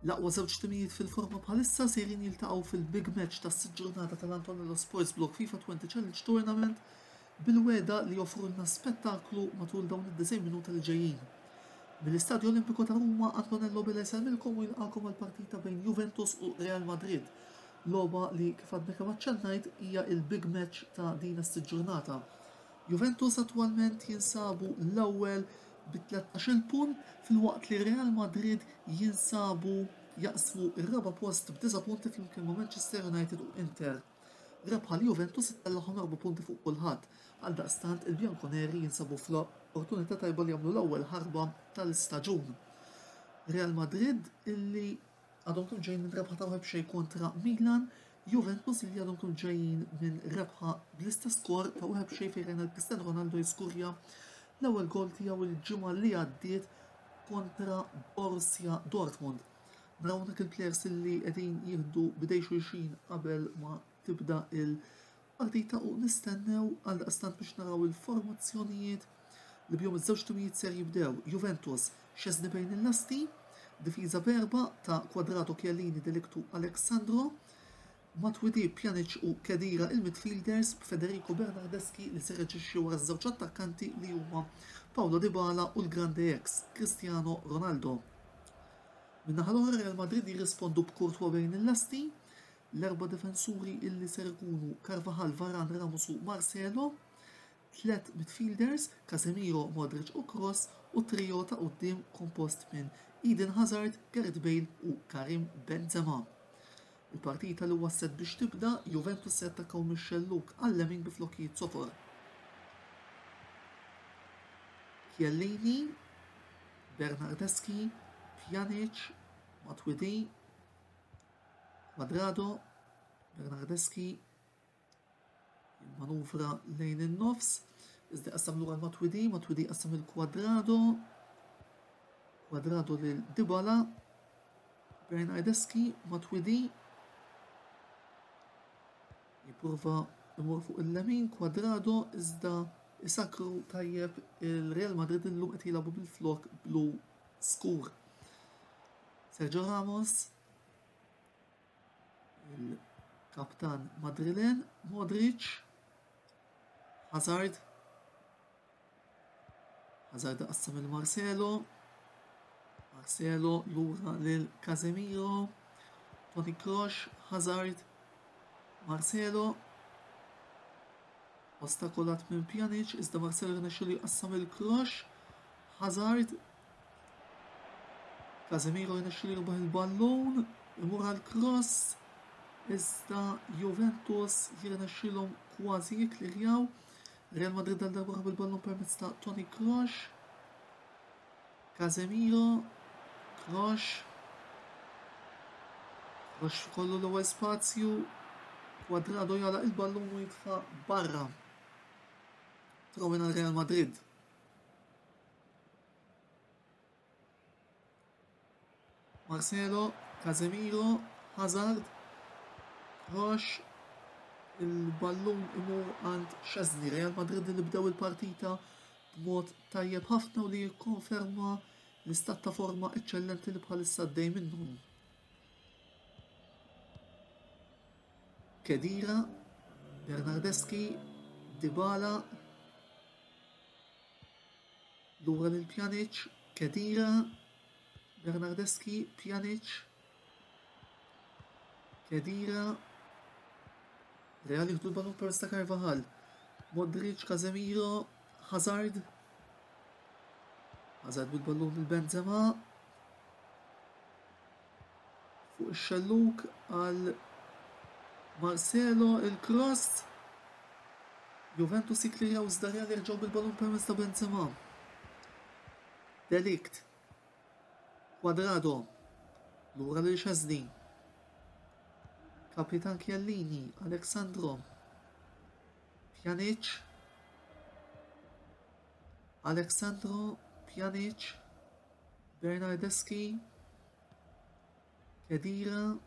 L-aqwa żewġ timijiet fil-forma bħalissa sejrin jiltaqgħu fil-big match tas-sitt ġurnata tal-Antonello Sports Block FIFA 20 Challenge Tournament bil-wegħda li joffrulna spettaklu matul dawn id-90 minuta li ġejjin. Mill-Istadju Olimpiku ta' Ruma, Antonello Bella jsellmilkom u jilqagħkom għall-partita bejn Juventus u Real Madrid, logħba li kif għadni kemm aċċennajt hija l-big match ta' din s-siġġurnata. Juventus attwalment jinsabu l-ewwel bi tlettax-il punt filwaqt li Real Madrid jinsabu jaqsmu r-raba' post b'disa' punti flimkien ma' Manchester United u Inter. Rebħa l-Juventus ittellagħhom erba' punti fuq kulħadd. Għaldaqstant il-Bianconeri jinsabu fl-opportunità tajba li jagħmlu l-ewwel ħarba tal-istaġun. Real Madrid illi għadhom kemm ġejjin minn rebħa ta' wieħed b'xejn kontra Milan, Juventus illi għadhom kemm ġejjin minn rebħa bl-istess skor ta' wieħed b'xejn fejn rajna l-Cristiano Ronaldo jiskurja l-ewwel gol tiegħu l-ġimgħa li għaddiet kontra Borussia Dortmund. Dawn dak il-players li qegħdin jieħdu bidej xulxin qabel ma tibda il-partita u nistennew għal daqstant biex naraw il-formazzjonijiet li bjom iż-żewġ timijiet ser jibdew. Juventus, Szczesny bejn il-lasti, difiża berba ta' Quadrado Chiellini Delictu Alexandro, Matuidi, Pjanic u Khedira il-midfielders b'Federico Bernardeschi li se reaġixxi wara ż-żewġ attakkanti li huma Paulo Dybala u l-grande ex, Cristiano Ronaldo. Min-naħa l-oħra Real Madrid jirrispondu b'Courtois bejn il-lasti, l-erba' difensuri illi ser ikunu Carvajal, Varane, Ramos u Marcelo, tliet midfielders, Casemiro, Modric u Kroos, u trio ta' quddiem kompost minn Eden Hazard, Gareth Bale u Karim Benzema. Il-partita li wasslet biex tibda, Juventus se jattakkaw mix-xellug għal-lemin bi flokkijiet sofor. Chiellini, Bernardeschi, Pjanic, Matuidi, Quadrado, Bernardeschi, Il-manuvra lejn in-nofs, iżda qassam lura l-Matwidi, Matwidi qassam lil Quadrado, Quadrado lil Dibala, Brian Aideski, Matwidi, jiprova imur fuq il-lemin kwadrado iżda isakru tajjeb il-Real Madrid illum qed jilagħbu bil-flok blu skur. Sergio Ramos il-kaptan Madrilen, Modric, Hazard, Hazard qassam il-Marcelo, Marcelo lura lil Casemiro, Toni Kroos, Hazard, Marcelo, ostakolat minn Pjanic, iżda Marcelo rnexxilu jqassam il-Kroos, Hazard, Casemiro jirnexxielu jirbaħ il-ballun, imur għal cross, iżda Juventus jirnexxielhom kważi jikkliħjaw. Real Madrid għal darba bil-ballun permezz ta' Toni Kroos. Casemiro, Kroos. Kroos kollu l-ewwel spazju. Quadrado jala il-ballun u jitfa' barra. Trawin għal Real Madrid. Marcelo, Casemiro, Hazard, Roche, il-ballun imur għand Chesney, Real Madrid li bdew il-partita b'mod tajjeb ħafna u li jikkonferma l-istat ta' forma eċċellenti li bħalissa għaddej minnhom. Kedira, Bernardeschi, Dybala, Lura lil Pjaniċ, Khedira, Bernardeschi, Pjaniċ, Khedira, Real jieħdu l-ballun permezz ta' Carvajal, Modric, Casemiro, Hazard, Hazard bil-ballun lil Benzema, Fuq ix-xellug għal Marcelo, il-kross. Juventus jikklejaw iżda Real jerġgħu bil-ballun permezz ta' Benzema. De Ligt. Quadrado. Lura lil Xesni. Kapitan Chiellini, Alexandro. Pjanic. Alexandro Pjanic. Bernardeschi, Khedira,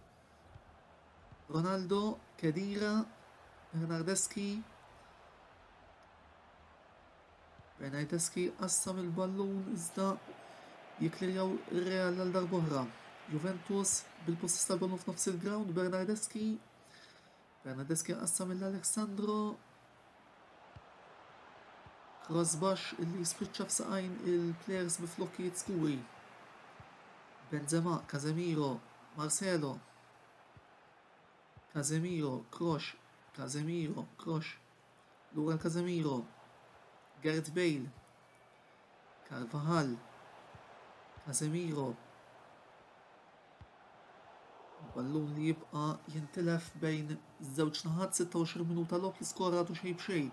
Ronaldo, Khedira, Bernardeschi, Bernardeschi qassam il-ballun iżda jiklirjaw ir-Real għal darbohra. Juventus bil-possess tal-ballun f'nofs il-ground, Bernardeschi, Fernandez kien qassam lil Alex Sandro. Cross baxx illi jispiċċa f'saqajn il-plejers bi flokkijiet skuri. Benzema, Casemiro, Marcelo. Casemiro, Krosh, Casemiro, Krosh, Lura Casemiro, Gareth Bale, Carvajal, Casemiro, il-ballun li jibqa' jintilef bejn żewġ naħat 26 minuta logħob li skoratu xejn b'xejn.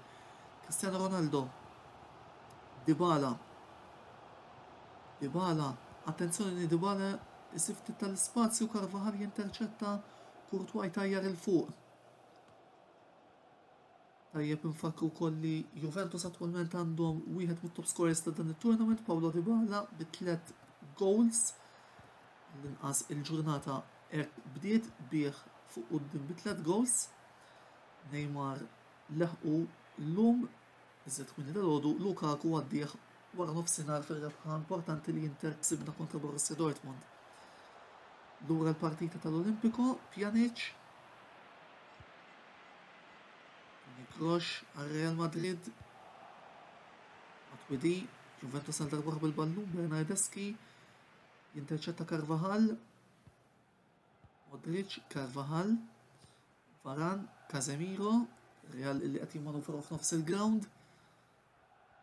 Cristiano Ronaldo, Dybala, Dybala, attenzjoni li Dybala isib ftit tal-ispazju Karvahal jinterċetta Kurtwa jtajjar il fuq. Tajjeb infakkru wkoll li Juventus attwalment għandhom wieħed mit-top scorers ta' dan it-tournament, Paulo Dybala bi tliet goals l-inqas il-ġurnata hekk bdiet bih fuq quddiem bi tliet goals. Neymar leħqu llum Iżjed kmieni dalgħodu, Lukaku għaddieħ wara nofsinhar fir-rebħa importanti li Inter ksibna kontra Borussia Dortmund. Lura l-partita tal-Olimpiko, Pjanic Nikrox għal Real Madrid Matwidi, Juventus għal darba bil-ballun Bernardeski, jinterċetta Carvajal, Modric, Carvajal, Varane, Casemiro, Real li qed jimmanuvraw f'nofs il-ground.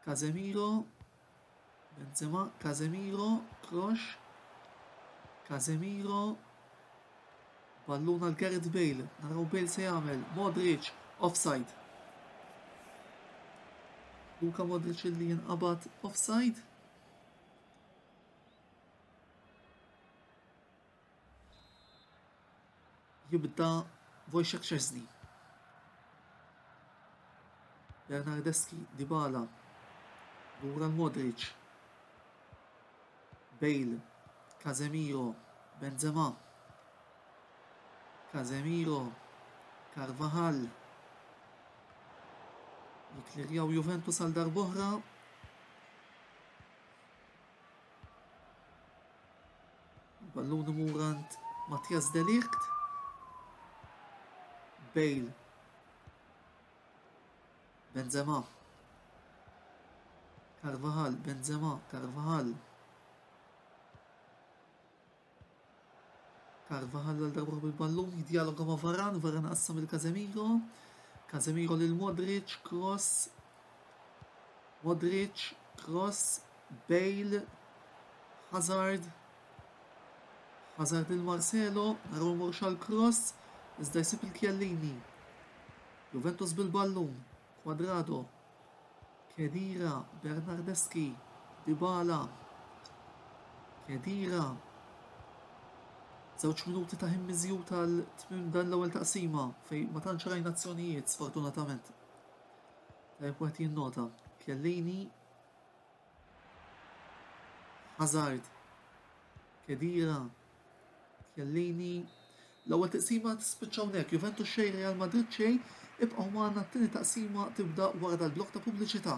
Casemiro, Benzema, Casemiro, Kroos, Casemiro, Balluna l-Gareth Bale, naraw Bale se jagħmel, Modric, offside. Luka Modric li jinqabad offside. Jibda Wojciech Szczesny. Bernardeschi, Dybala, Lura l-Modric, Bale, Casemiro, Benzema, Casemiro, Carvajal, jiklirjaw Juventus għal darboħra. Il-ballun imur għand Mattias de Ligt. Bale. Benzema. Carvajal, Benzema, Carvajal. Carvajal għal darba bil-ballun jidjaloga ma' Varan, Varan qassam il-Kazemiro. Kazemiro lil Modric, cross, Modric, Kroos, Bale, Hazard, Hazard lil Marcelo, naraw imorru x'għal Kroos, iżda jsib lil Chiellini. Juventus bil-ballun, Quadrado, Khedira, Bernardeschi, Dybala, Khedira, żewġ minuti ta' ħin miżjud għal tmiem dan l-ewwel taqsima fejn ma tantx rajna azzjonijiet sfortunatament. Wieħed jinnota, Chiellini, Hazard, Khedira, Chiellini. L-ewwel taqsima tispiċċa hawnhekk, Juventus xejn Real Madrid xejn, ibqgħu magħna t-tieni taqsima tibda wara dal-blok ta' pubbliċità.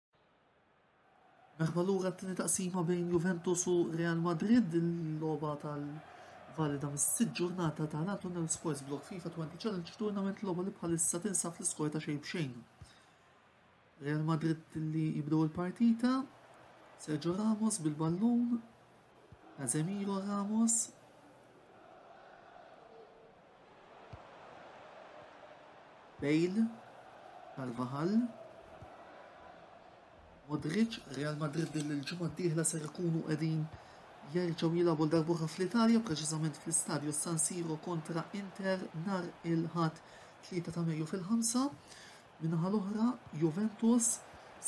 Merħba lura t-tieni taqsima bejn Juventus u Real Madrid, il-logħba tal-valida mis-sitt ġurnata ta' National Sports Block FIFA 20 Challenge Tournament logħba li bħalissa tinsab fl-iskor ta' xejn b'xejn. Real Madrid li jibdew il-partita, Sergio Ramos bil-ballun, Casemiro Ramos. Bale. Carvajal. Modric, Real Madrid din il-ġimgħa d-dieħla ser ikunu qegħdin jerġgħu jilagħbu darbuħa fl-Italja, preċiżament fl-Istadju San Siro kontra Inter nar il-ħadd 3 ta' Mejju fil-5. Min-naħa l-oħra, Juventus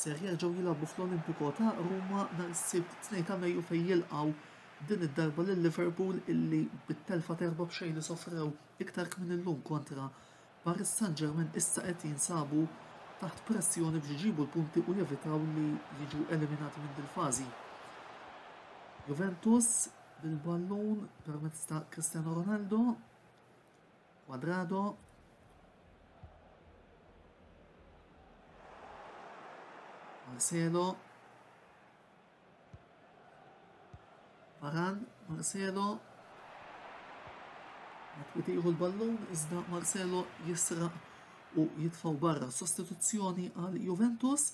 ser jerġgħu jilagħbu fl-Olimpico ta' Ruma nhar is-Sibt 2 ta' Mejju fejn jilqgħu din id-darba lil Liverpool illi bit-telfa ta' erba' b'xejn li sofrew iktar kmin illum kontra Paris Saint-Germain issa qed jinsabu taħt pressjoni biex iġibu l-punti u jevitaw li jiġu eliminati minn dil-fażi. Juventus bil-ballun permezz ta' Cristiano Ronaldo. Quadrado. Marcelo. Varan, Marcelo. Jtiħu l-ballun, iżda Marcelo jisraq u jitfaw barra. Sostituzzjoni għal Juventus.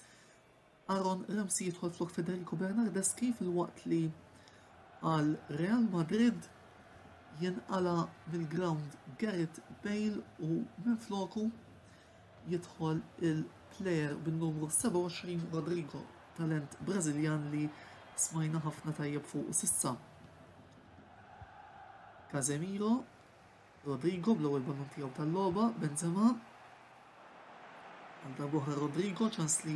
Aaron Ramsey jidħol flok Federico Bernardeschi filwaqt li għal Real Madrid jinqala' mill-grawnd Gareth Bale u minfloku jidħol il-player bin-numru 27 Rodrygo, talent Brażiljan li smajna ħafna tajjeb fuqu s'issa. Casemiro Rodrygo bl-ewwel ballun tiegħu tal-logħba, Benzema. Għal darbohra Rodrygo ċans li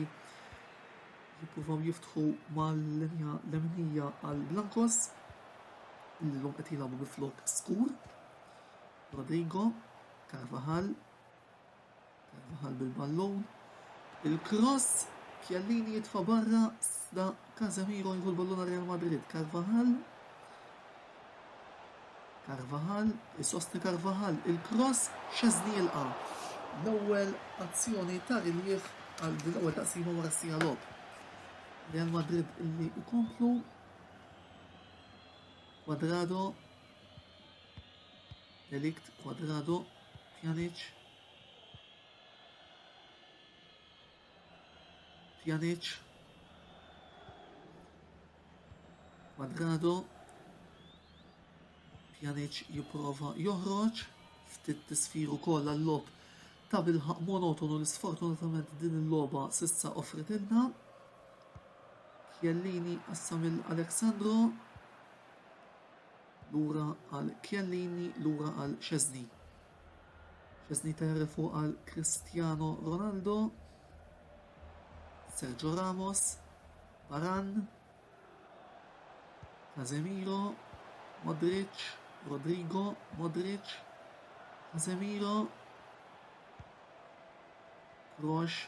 jippruvaw jiftħu mal-linja leminija għal Blancos li l-lum qed jilagħbu bi flok skur. Rodrigo, Carvajal, Carvajal bil-ballun. Il-cross, Chiellini jitfa' barra, sda Casemiro jieħu l-ballun għal Real Madrid. Carvajal. Carvajal, isostni Carvajal, il-cross, Chesney jilqa'. L-ewwel azzjoni ta' riliev għal din l-ewwel taqsima wara sija logħob. Real Madrid illi ikomplu Quadrado De Ligt, Cuadrado, Pjanic, Pjanic, Cuadrado, Pjanic jipprova joħroġ ftit tisfir ukoll għall-lob ta' bilħaq monotonu li sfortunatament din il-logħba sissa offret ilna. Chiellini qassam il-Alexandro. Lura għal Chiellini, lura għal Szczesny. Szczesny terri fuq għal Cristiano Ronaldo. Sergio Ramos, Baran, Casemiro, Modric, Rodrigo, Modric, Casemiro, Kroos,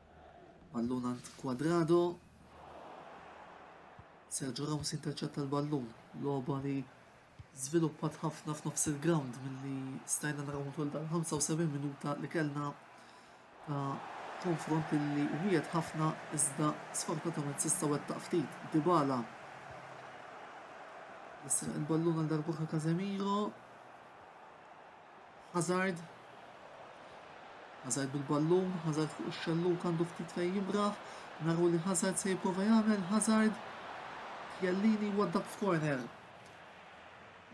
Ballun għand Quadrado. Sergio Ramos interċetta l-ballun. Loba li żviluppat ħafna f'nofs il-ground milli stajna naraw matul dal-75 minuta li kellna ta' konfront li wiet ħafna iżda sfortunatament sista wettaq ftit. Dibala jisraq il-ballun għal darbuħra Casemiro. Hazard. Hazard bil-ballun, Hazard fuq ix-xelluk għandu ftit fejn jimraħ, naru li Hazard se jipprova jagħmel, Hazard. Chiellini waddab f'korner.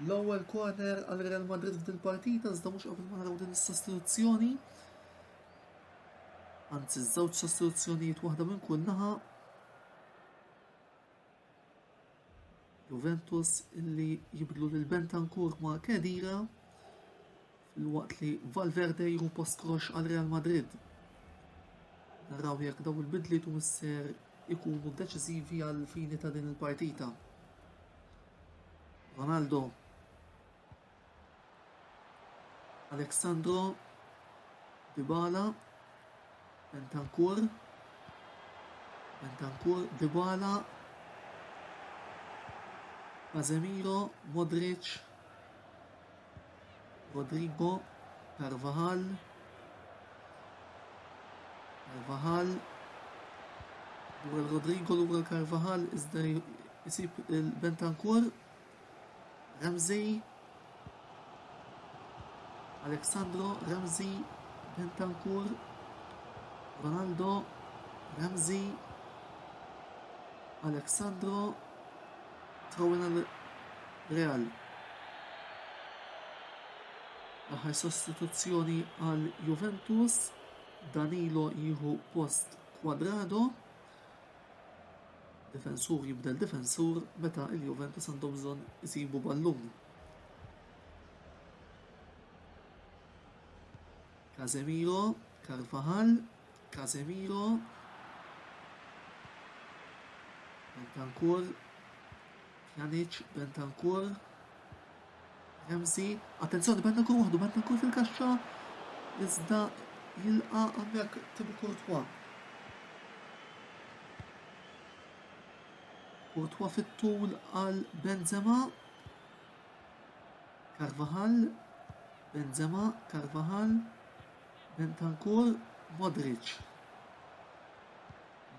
L-ewwel korner għal Real Madrid f'dil partita iżda mhux qabel ma naraw din is-sostituzzjoni. Anzi, żewġ sostituzzjonijiet waħda minn kull naħa Juventus illi jibdlu lil Bentancur ma' Kedira fil-waqt li Valverde jru post Krox għal Real Madrid. Naraw jekk daw il-bidliet u misser ikunu deċiżivi għal fini ta' din il-partita. Ronaldo Alexandro Dybala Bentancur Bentancur Dybala Casemiro Modric Rodrigo Carvajal Carvajal Rodrigo l-ura Carvajal iżda jisib il-Bentancur Ramsey Alexandro Ramsey Bentancur Ronaldo Ramsey Alexandro Trawin għal Real. L-aħħar sostituzzjoni għal Juventus, Danilo jieħu post Quadrado. Difensur jibdel difensur meta l-Juventus għandhom bżonn isibu ballun. Casemiro, Carvajal, Casemiro, Bentancur, Pjanic, Bentancur, Ramsey, attenzjoni Bentancur waħdu Bentancur fil-kaxxa iżda jilqa' hawnhekk Thibaut Courtois. Courtois fit-tul għal Benzema. Carvajal, Benzema, Carvajal, Bentancur, Modric.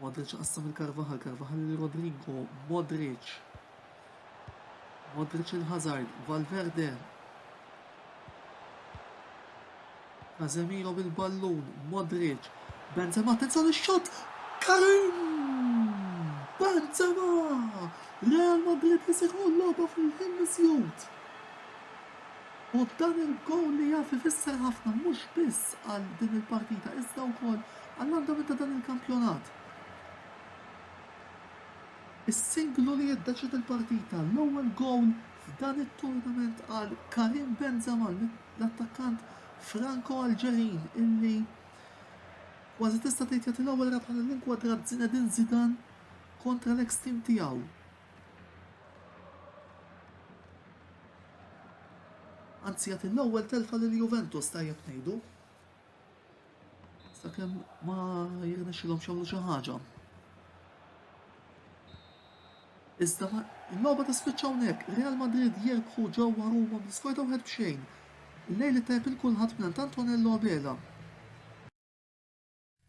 Modric qassam il-Carvajal, Carvajal lil Rodrygo, Modric. Modric il-Hazard, Valverde. Casemiro bil-ballun, Modric. Benzema, attenzjoni x-xot! Karim! Benzema! Real Madrid li se jkun logħba fil-ħin miżjud. U dan il-gowl li jaf ifisser ħafna mhux biss għal din il-partita iżda wkoll Għall-andament ta' dan il-kampjonat, is-singlu li jiddeċiedi l-partita, l-ewwel gowl f'dan it-turnament għal Karim Benzema, l-attakkant Franko-Alġerin illi kważi tista' tgħid jagħti l-ewwel rebħa lill-inkwadrat Zinedine Zidane kontra l-eks tim tiegħu. Anzi jagħti l-ewwel telfa lil Juventus tajjeb ngħidu. Sakemm ma jirnexxilhomx jagħmlu xi ħaġa. Iżda l-logħba tispiċċa hawnhekk. Real Madrid jirbħu ġewwa Ruma bl-iskor ta' wieħed b'xejn. Lejl it-tajb il kulħadd minn Antonello Abela.